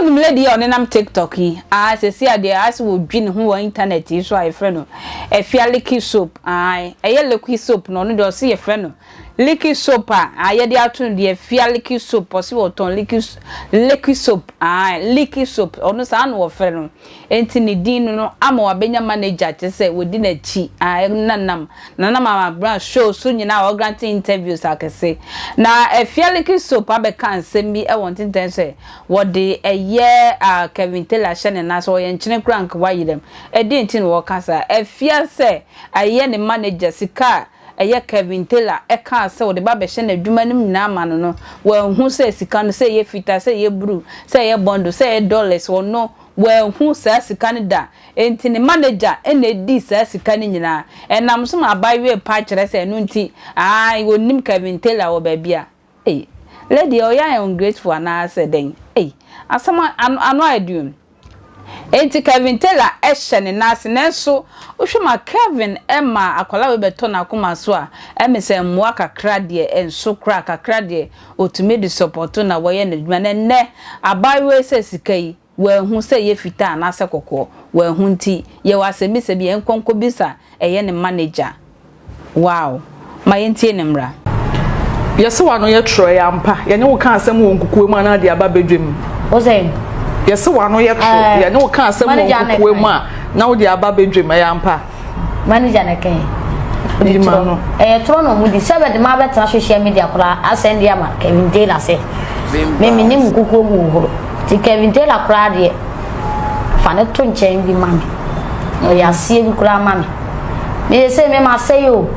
wonim lady yi a ɔnenam tiktok yi aa sɛsi a deɛ ase wɔdwi ne ho wɔ internet yi so a yɛfrɛ no afialiki soap aa ɛyɛ liquid soap no ɔno deɛ ɔse yɛfrɛ no Liquid soap a a yɛde ato no deɛ fia liquid soap ɔse ɔtɔn liquid liquid soap ae liquid soap ɔno saa na ɔfrɛ no enti ne din no no ama wabɛnya manager kyerɛ sɛ wɔdi n'akyi ae na nam na nam abena show so nyinaa a ɔgrante interviews akɛse na fia liquid soap abɛka nsɛm bi wɔ ntentɛn sɛ wɔde ɛyɛ a Kevin Taylor ahyɛ ne nan so ɔyɛ nkyene koraa nka wayerɛm ɛdeɛn nti na ɔka saa fia sɛ ɛyɛ ne manager sika a ɛyɛ Kevin Taylor kaa sɛ ɔde ba bɛhyɛ n'adwuma nom nyinaa ma no no, wanhu sɛ sika no, sɛ ɛyɛ fitaa, sɛ ɛyɛ bruu, sɛ ɛyɛ bɔndo, sɛ ɛyɛ dɔlɛs, ɔno, wanhu saa sika no da. Enti ne managya na ɛdii saa sika no nyinaa. Ɛnam so ma abaayewa yi pae kyerɛ sɛ ɛno nti, ae, ɔnnim Kevin Taylor wɔ baabiara. Ei lady ɔyɛ ayɛ ungrateful anaa sɛ dɛn ei asɛm ano ano ayɛ den o enti Kevin Taylor hyɛ ne nan ase nanso wohwɛ ma Kevin ma akwadaa wei bɛtɔ n'akoma so a ɛme sɛ mmoa kakra deɛ nso koraa kakra deɛ ɔtumi de supporto na wɔyɛ no adwuma na ɛnnɛ abaayewa yi sɛ sika yi Wanhu sɛ ɛyɛ fitaa anaasɛ kɔkɔɔ. Wanhu nti, yɛwɔ asɛmmisa bi a ɛnkɔ nkɔbisa ɛyɛ ne mma no agya. Wow! Ma yɛntie ne mmara. Yɛse w'ano yɛ trɔɛ ampa. Yɛne wo ka asɛm wɔ nkukuo mu anaa de aba badwam? Wo sɛ? Yɛse w'ano yɛ trɔ. Yɛne wo ka asɛm wɔ nkukuo mu a na wode aba badwam. Ɛyɛ ampa? manager na kɛn ɔde ma no ɛyɛ toro na ɔmo di sɛ bɛde ma bɛtena social media koraa asɛn de ama kevin taylor sɛ mimi ne mu kukuo mu horo ti kevin taylor koraa deɛ fa ne to nkyɛn bi ma me ɔyɛ aseɛ bi koraa ma me meyɛ sɛ me ma sɛ yo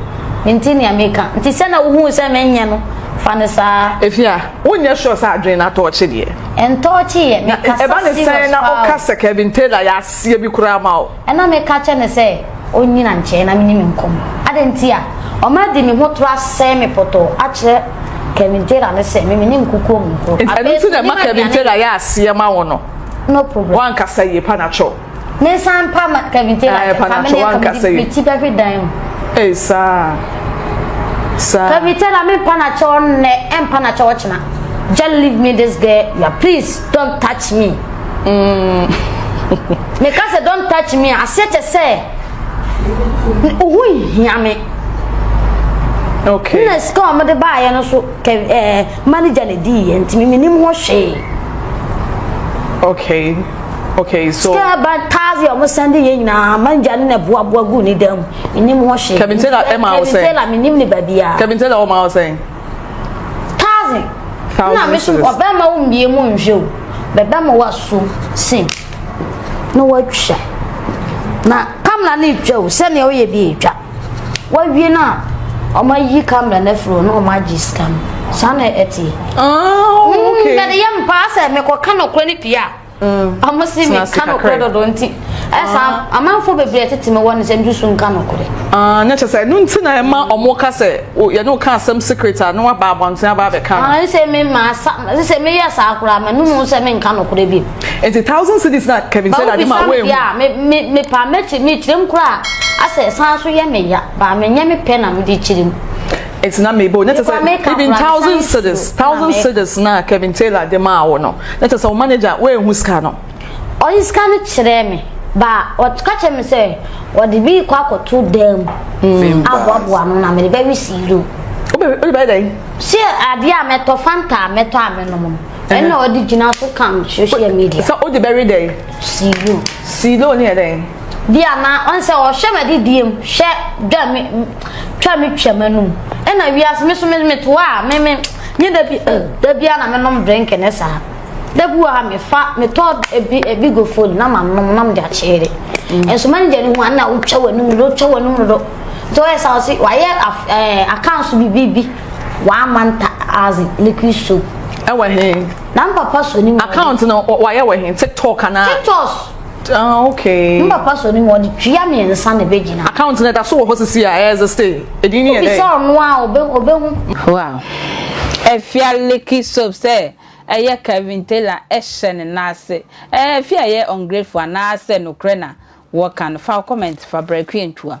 nti nea meka nti sɛ na wohu sɛ menyɛ no fa ne saa efia wonyɛ sure sɛ adwene no atɔɔkye deɛ ɛntɔɔkye yɛ mekasa serious paa ɛba ne sɛn na woka sɛ kevin taylor yɛ aseɛ bi koraa ma wo Ɛna meka kyerɛ no sɛ ɔnnyina nkyɛn na me ne no nkɔm. Adɛn nti a ɔma di me ho toro asɛe me pɔtɔɔ akyerɛ Kevin Taylor no sɛ me me ne nkukuo mu nkɔ. Ɛno Afei nti nso na ɛma menim Kevin aduane Taylor yɛ. yɛ aseɛ ma wo no. No problem. Woankasa yie panatwo. Me nsa mpa ma Kevin Taylor Ae, kyɛ. Fa me panatwo, ne nka woankasa mede yie. me ti bɛhwe dan mu. Ei saa. Saa. Kevin Taylor me mpa no akyɛw nnɛ, ɛmpa no akyɛw ɔkyena. Just leave me this girl ya please. Don't touch me. Mm. Meka sɛ don't touch me aseɛ kyɛ sɛ wohu hia me. Okay. Na sika a wɔde baayɛ no so kɛ eh, manager na di yɛ ntumi menim ho hwee. Okay. Okay, so sika ba tazi ọmọ sẹndi yẹn nyinaa manja ne na buabua gu ne dẹm enim ho hye. Kevin Taylor ẹ ma ọ sẹ. Kevin Taylor mi nim ne baabi a. Kevin Taylor ọ ma ọ sẹ. thousand na me so ɔbɛma wo mmie mu nhwɛ o bɛbɛma waso se na watwa na kamera no retwa o sɛnea woyɛ bi retwa wawie no a ɔma yi kamera no afiri hɔ na ɔma agye sika no saa na ɛteɛ mede yɛ mpaa sɛ mekɔka nɔkorɛ no pii a ɔmo se me ka nokorɛ dodo nti ɛsa ah. amanfoɔ bebree tete me wɔ ne sɛ ndusu nka nokorɛ ah, na kyɛ sɛ ɛno nti na ɛma ɔmo ka sɛ yɛne wo ka asɛm secret a na waba abɔnten aba abɛka no ah, sɛ me ma sa sɛ meyɛ saa koraa ma no mu sɛ menka nokorɛ bi nti thousand cities na kevin sɛ dade ma woe mu mepa mɛkyerɛ mekyerɛm koraa asɛ san so yɛ meya baa menyɛ me pɛ na mede kyerɛm nti na mebɔ o na kyerɛ sɛ even thousand cedis thousand cedis na kevin taylor de maa wo no na kyerɛ sɛ wo manager woanhu sika no ɔde sika no kyerɛɛ me ba ɔka kyerɛ me sɛ ɔde bi kɔ akɔto dan mu hmm. aboaboa no na mede bɛwe siiro wode bɛyɛ dɛn sɛ adeɛ a mɛtɔ fanta a mɛtɔ a mɛnom no ɛna ɔde gyina so kam social media sɛ wode bɛwe dɛn siiro siiro ne yɛ dɛn bia na ɔn sɛ ɔhwɛ m'ade diem hwɛ dwa me twa me twa m'anum ɛna wiase me so me me to a me me nye da bi eh, da bi a na me nom drink ne saa da bi wɔ ha me fa me tɔ ebi ebi go phone na ma nom na me de akyere mm. nso manager ne ho a na wotwa w'anum do twa w'anum do nti wɔyɛ sa ɔse wayɛ ɛɛ accounts bi bi bi one month as liquid soap ɛwɔ he na mpapa so ne mu account no wayɛ wɔ he tiktok anaa tiktok. Ah, okay. Ne papa sɔ ne mu ɔde tua mmiɛnsa na ɛbɛ gyina. Account na ɛda so wɔ hɔ sisi a ɛyɛ ɛsɛ stay. Ɛdin ni yɛ dɛ. Obi sɛ ɔno a ɔbɛ ɔbɛ hu. Wow. Efia Licky Soap sɛ ɛyɛ Kevin Taylor ɛhyɛ ne nan ase. Ɛɛ Efia yɛ ungrateful anaa sɛ nokorɛ na wɔka no? Fa wo comment fa brɛ Kwiantwua.